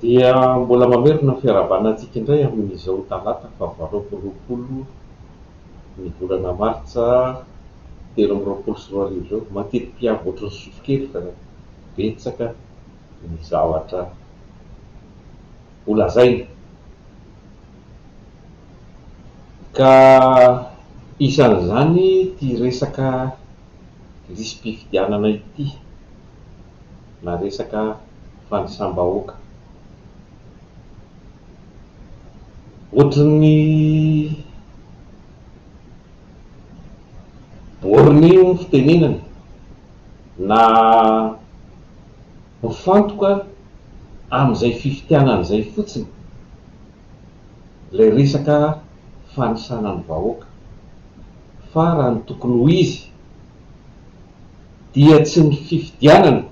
Dia mbola mamerina ny fiarahabana antsika indray amin'izao talata faha valo amby roapolo ny volana martsa telo amby roapolo sy roa arivo izao. Matidipiavo ohatry ny sofokely fa betsaka ny zavatra ho lazaina ka isan'izany ity resaka lisi-pifidianana ity. na resaka fanisam-bahoaka. Ohatrin'ny borne hono fitenenana na mifantoka amin'izay fifitianana izay fotsiny ilay resaka fanisana ny vahoaka fa raha ny tokony ho izy, dia tsy ny fifidianana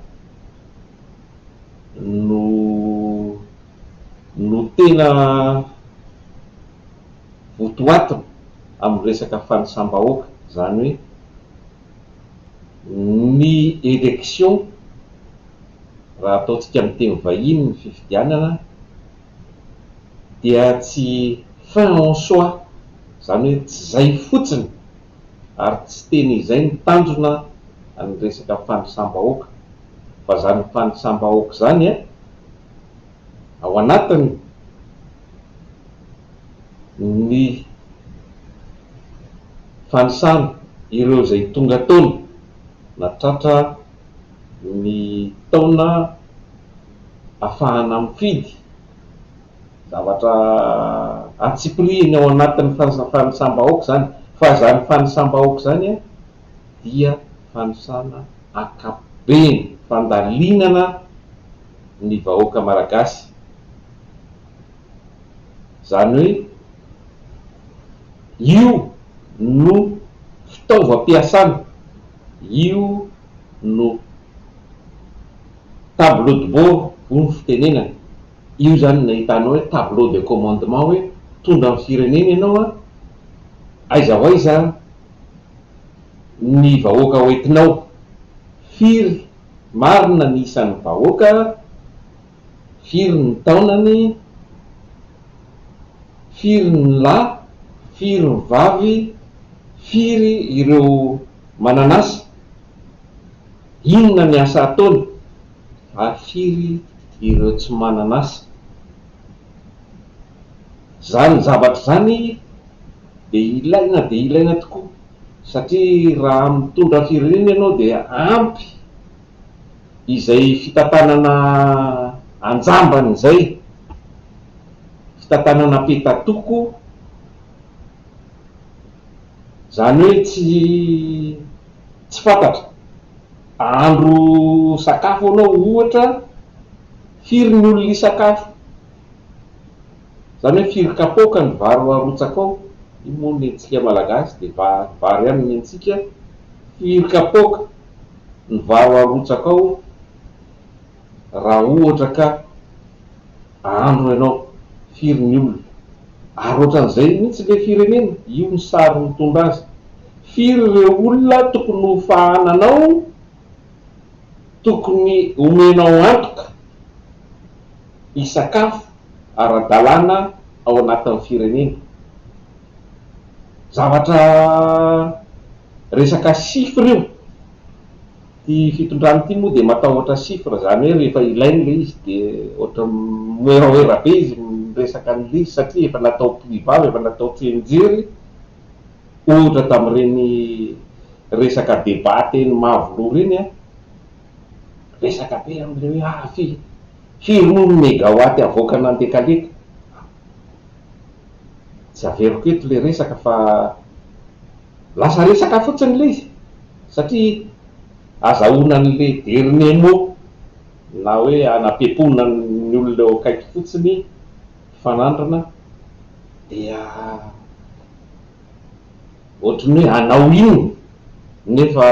no no tena votoatiny amin'ny resaka fanisam-bahoaka, izany hoe ny élection, raha ataontsika amin'ny teny vahiny ny fifidianana, dia tsy fin en soi, izany hoe tsy izay fotsiny. ary tsy teny izay ny tanjona ny resaka fanisam-bahoaka fa zany fanisam-bahoaka zany a ao anatiny ny fanisana ireo izay tonga tony na tratra ny taona afahana mifidy Zavatra antsipirihiny ao anatin'ny fanisam-bahoaka izany, fa izany fanisam-bahoaka izany dia fanisana ankapobeny, fandalinana ny vahoaka malagasy, izany hoe io no fitaovam-piasana, io no tableau de bord hoy ny fitenenana. Io izany nahitanao hoe tableau de commandement hoe mpitondra ny firenena ianao an, aiza ho aiza ny vahoaka ho entinao, firy marina ny isan'ny vahoaka, firy ny taonany, firy ny lahy, firy ny vavy, firy ireo manan'asa, inona ny asa ataony. ary firy ireo tsy manan'asa? Izany zavatra izany dia ilaina dia ilaina tokoa satria raha mitondra firenena ianao dia ampy izay fitantanana an-jambany izay, fitantanana peta-toko. Izany hoe tsy tsy fantatra. Ahandro sakafo ianao ohatra, firy ny olona hisakafo? Izany hoe firy kapoaka ny vary ho arotsaka ao? Io moa ny antsika Malagasy dia vary vary ihany ny antsika. Firy kapoaka ny vary ho arotsaka ao? Raha ohatra ka andro ianao, firy ny olona? Ary ohatran'izay mihitsy ilay firenena, io ny sary mitondra azy. Firy ireo olona tokony ho fahananao, tokony homenao antoka hisakafo ara-dalàna ao anatin'ny firenena? Zavatra resaka chiffres io. Ity fitondrana ity moa dia matahotra chiffre, izany hoe rehefa ilainy ilay izy dia ohatra moeraoera be izy miresaka an'ilay izy satria efa natao privava, efa natao tsianjery ohatra tamin'ireny resaka débat teny Mavoloha ireny an, resaka be amin'ilay hoe ah firy, firy moa ny megawatt avoaka nandekaleka, tsy averiko eto ilay resaka fa. Lasa resaka fotsiny ilay izy satria azahoana an'ilay dernier mot na hoe anapempoana ny olona eo akaiky fotsiny fanandrina dia ohatry ny hoe hanao inona nefa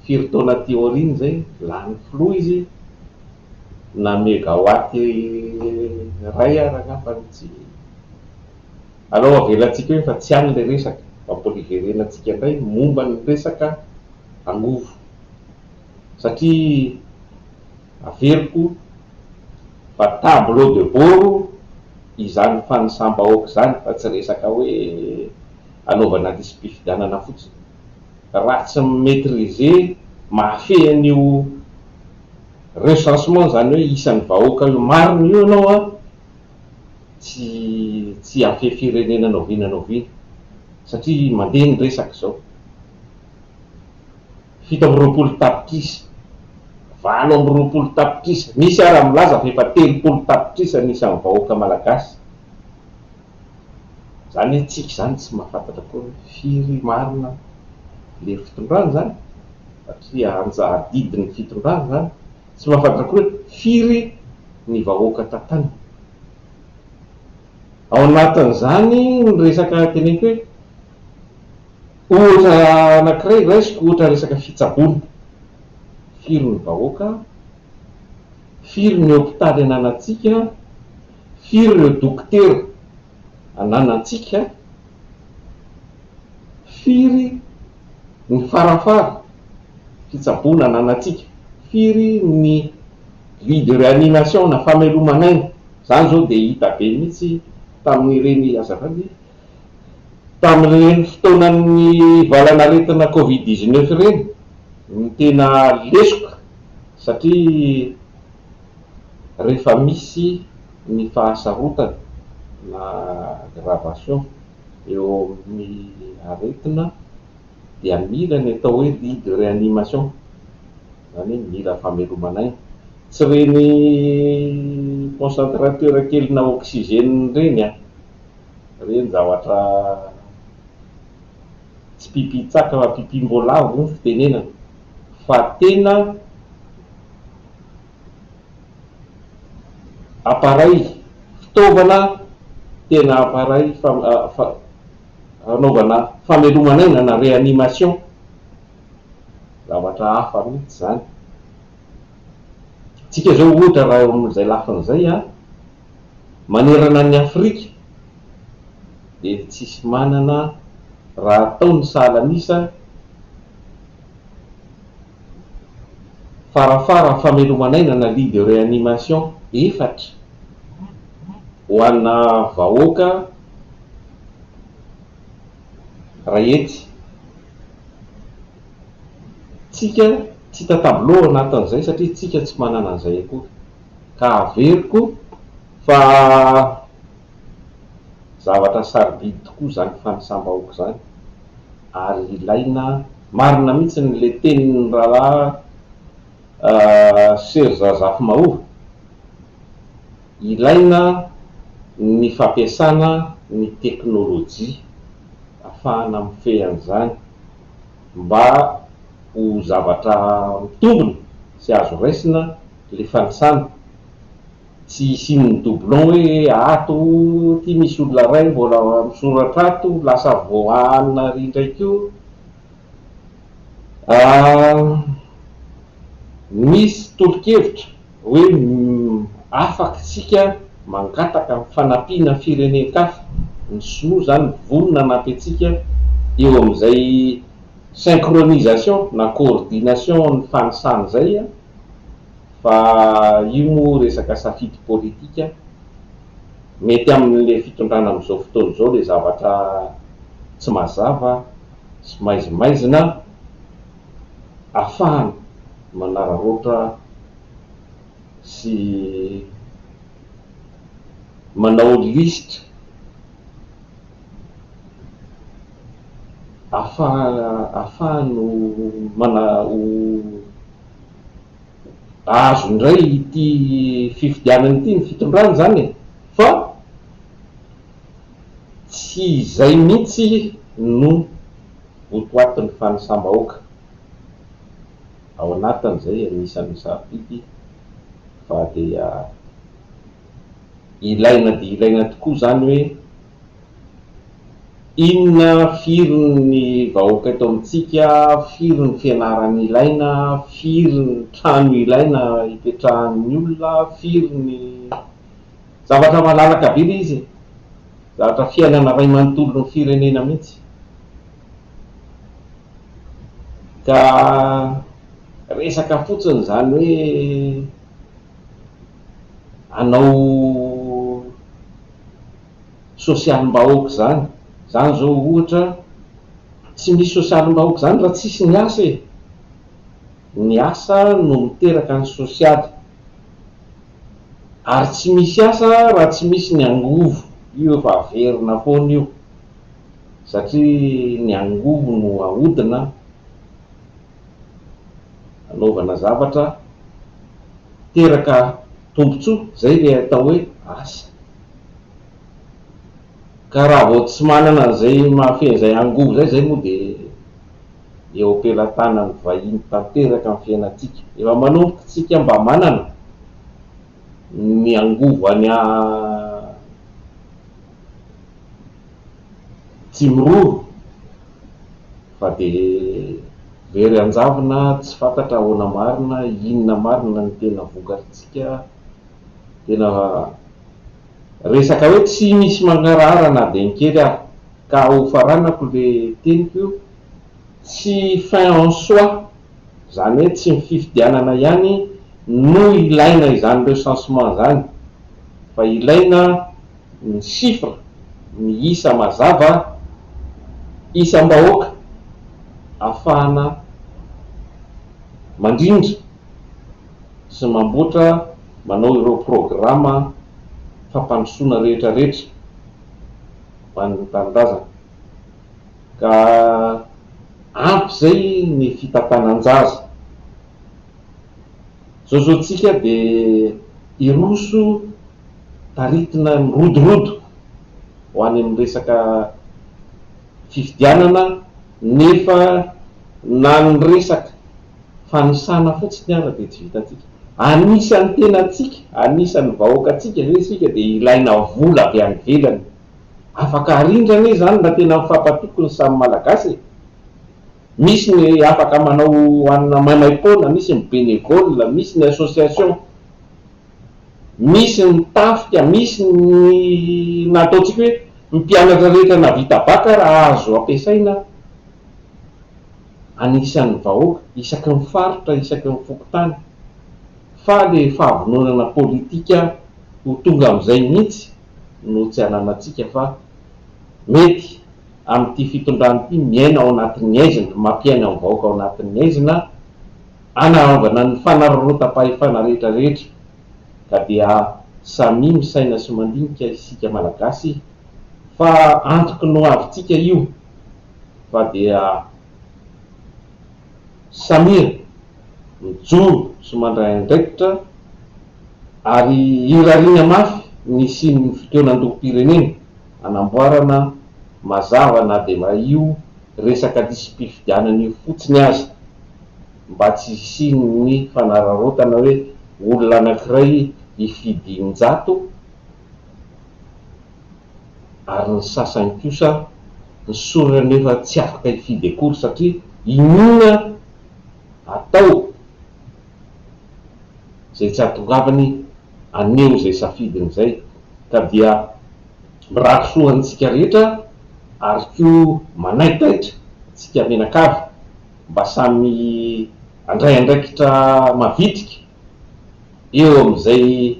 firy taona aty aoriana izay lany filoha izy na megawatt iray ary angamba tsy Alao avelantsika eo efa tsy any ilay resaka, ampoliverena antsika indray momba ny resaka angovo satria averiko fa tableau de boro izany fanisam-bahoaka izany fa tsy resaka hoe anaovana lisi-pifidianana fotsiny. Raha tsy mi-maitriser mahafehy an'io recensement izany hoe isan'ny vahoaka io marina io ianao an! tsy tsy afehy firenena na oviana na oviana satria mandeha ny resaka izao. Fito amby roapolo tapitrisa, valo amby roapolo tapitrisa, misy ara milaza fa efa telopolo tapitrisa ny isan'ny vahoaka malagasy. Izany hoe tsika izany tsy mahafantatra koa hoe firy marina lery fitondrana izany satria anja adidin'ny fitondrana izany. Tsy mahafantatra koa hoe firy ny vahoaka tapany. Ao anatin'izany ny resaka teneniko hoe ohatra anankiray raisiko ohatra resaka fitsaboana. Firy ny vahoaka, firy ny hopitaly ananantsika, firy ireo dokotera ananantsika, firy. Ny farany fara, fitsaboana ananantsika. Firy ny vie de réanimation na fameloman'aina, izany izao dia hita be mihitsy tamin'ireny, azafady, tamin'ireny fotoanan'ny valan'aretina covid dix neuf ireny no tena lesoka satria rehefa misy ny fahasarotana na aggravation. Eo amin'ny aretina dia mila ny atao hoe lit de réanimation, izany hoe mila fameloman'aina. Tsy ireny concentrateur kelinà oxygène ireny an! Ireny zavatra tsy pipitsaka fa pipimboalavo ny fitenenana fa tena. Appareil, fitaovana tena appareil fanaovana famelomana aina na réanimation, zavatra hafa mihitsy izany. Tsika izao ohatra raha eo amin'izay lafiny izay an, manerana an'i Afrika dia tsisy manana raha atao ny sahala an'isa, farafaran fameloman'aina na lit de reanimation efatra ho ana vahoaka ray hetsy tsika tsy hita tableau ao anatin'izay satria tsika tsy manana an'izay akory ka averiko fa zavatra sarobidy tokoa izany fanisam-bahoaka izany ary ilaina Marina mihitsy ny le tenin'ny rahalahy Serge Razafimahory, ilaina ny fampiasana ny teknolojia afahana mifehy an'izany mba ho zavatra mitombina sy azo raisina le fanisana Tsy hisian'ny doublon hoe ato ty misy olona iray mbola misoratra ato lasa voahanina ary indray koa misy tolo-kevitra hoe afaka isika mangataka ny fanampiana firenen-kafa, ny sinoa izany vonona hanampy antsika eo amin'izay synchronisation na coordination ny fanisany izay. fa io moa resaka safidy politika, mety amin'ilay fitondrana amin'izao fotoana izao ilay zavatra tsy mazava sy maizimaizina afahany manararaotra sy manao lisitra afahany ho azo indray ity fifidianana ity ny fitondrana izany e! fa tsy izay mihitsy no votoatin'ny fanisam-bahoaka ao anatiny izay anisan'ny sarobidy fa dia ilaina dia ilaina tokoa izany hoe Inona, firy ny vahoaka eto amintsika, firy ny fianarana ilaina, firy ny trano ilaina hipetrahan'ny olona, firy ny. Zavatra malalaka be ilay izy e! Zavatra fiainana iray manontolon'ny firenena mihitsy. Ka resaka fotsiny izany hoe hanao. sosialim-bahoaka izany, izany izao ohatra tsy misy sosialim-bahoaka izany raha tsisy ny asa e! ny asa no miteraka ny sosialy ary tsy misy asa raha tsy misy ny angovo, io efa averina foana io satria ny angovo no ahodina. anaovana zavatra miteraka tombontsoa, izay ilay atao hoe asa. Ka raha vao tsy manana an'izay mahafehy an'izay angovo izay, izay moa dia eo am-pelatanan'ny vahiny tanteraka ny fiainantsika. Efa manomboka isika mba manana ny angovo any Tsimiroro. Fa dia very hanjavona tsy fantatra ahoana marina, inona marina ny tena vokarintsika. Tena resaka hoe tsy misy mangarahara na dia ny kely ary. Ka ho faranako ilay teniko io, tsy fin en soi, izany hoe tsy ny fifidianana ihany no ilaina izany recensement izany fa ilaina, ny chiffre ny isa mazava isam-bahoaka afahana mandrindra sy mamboatra manao ireo programa fampandrosoana rehetra rehetra ho an'ny tanindrazana ka ampy zay ny fitantanan-jaza zao zao tsika dia hiroso taritina mirodorodo ho any amin'ny resaka fifidianana nefa na ny resaka fanisana fotsiny ara dia tsy vitantsika. Anisan'ny tenantsika, anisan'ny vahoakantsika ve isika dia ilaina vola avy any ivelany? Afaka arindra anie izany raha tena mifampatoky ny samy Malagasy e! Misy ny afaka manao anona maimaim-poana, misy ny bénévole, misy ny association Misy ny tafika, misy ny na ataontsika hoe ny mpianatra rehetra navita baka raha azo ampiasaina anisan'ny vahoaka isaky ny faritra, isaky ny fokontany fa ilay fahavononana politika ho tonga amin'izay mihitsy no tsy ananantsika fa mety amin'ity fitondrana ity miaina ao anatin'ny aizina, mampiaina ny vahoaka ao anatin'ny aizina. Hanaovana ny fanararaotam-pahefana rehetra rehetra ka dia samia misaina sy mandinika isika Malagasy fa antoky ny ho avintsika io fa dia samia mijoro sy mandray andraikitra ary irariana mafy ny hisian'ny fitoenan-dohom-pirenena hanamboarana mazava na dia io resaka lisi-pifidianana io fotsiny aza. mba tsy hisian'ny fanararaotana hoe olona anankiray hifidy in-jato ary ny sasany kosa ny sorona nefa tsy afaka hifidy akory satria inoana atao izay tsy hahatongavany haneho izay safidiny izay ka dia mirary soa ho antsika rehetra ary koa manaitaitra antsika mianakavy mba samy handray andraikitra mavitrika eo amin'izay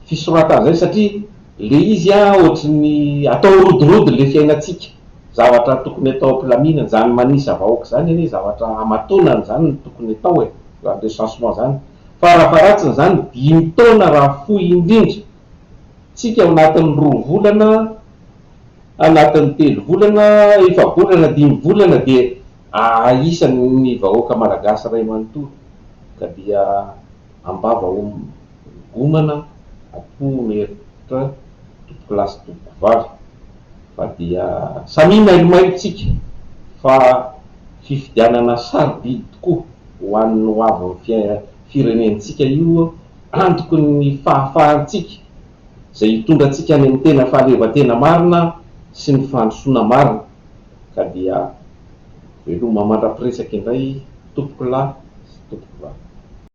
fisoratana izay satria ilay izy ohatry ny atao rodirody ilay fiainantsika, zavatra tokony atao am-pilaminana, izany manisa vahoaka izany anie zavatra hamatonana izany no tokony atao e, izany recensement izany, fara-faharatsiny izany dimy taona raha fohy indrindra, tsika ao anatin'ny roa volana, Anatin'ny telo volana, efa-bolana na dimy volana dia ahisan'ny vahoaka Malagasy iray manontolo ka dia am-bava homana am-po mirehitra tompokolahy sy tompokovavy fa dia samia mailomailontsika fa fifidianana sarobidy tokoa ho an'ny hoavin'ny firenentsika io antoky ny fahafahantsika izay hitondra antsika any amin'ny tena fahaleovantena marina sy ny fandrosoana marina. Ka dia veloma mandra-piresaka indray tompokolahy sy tompokovavy.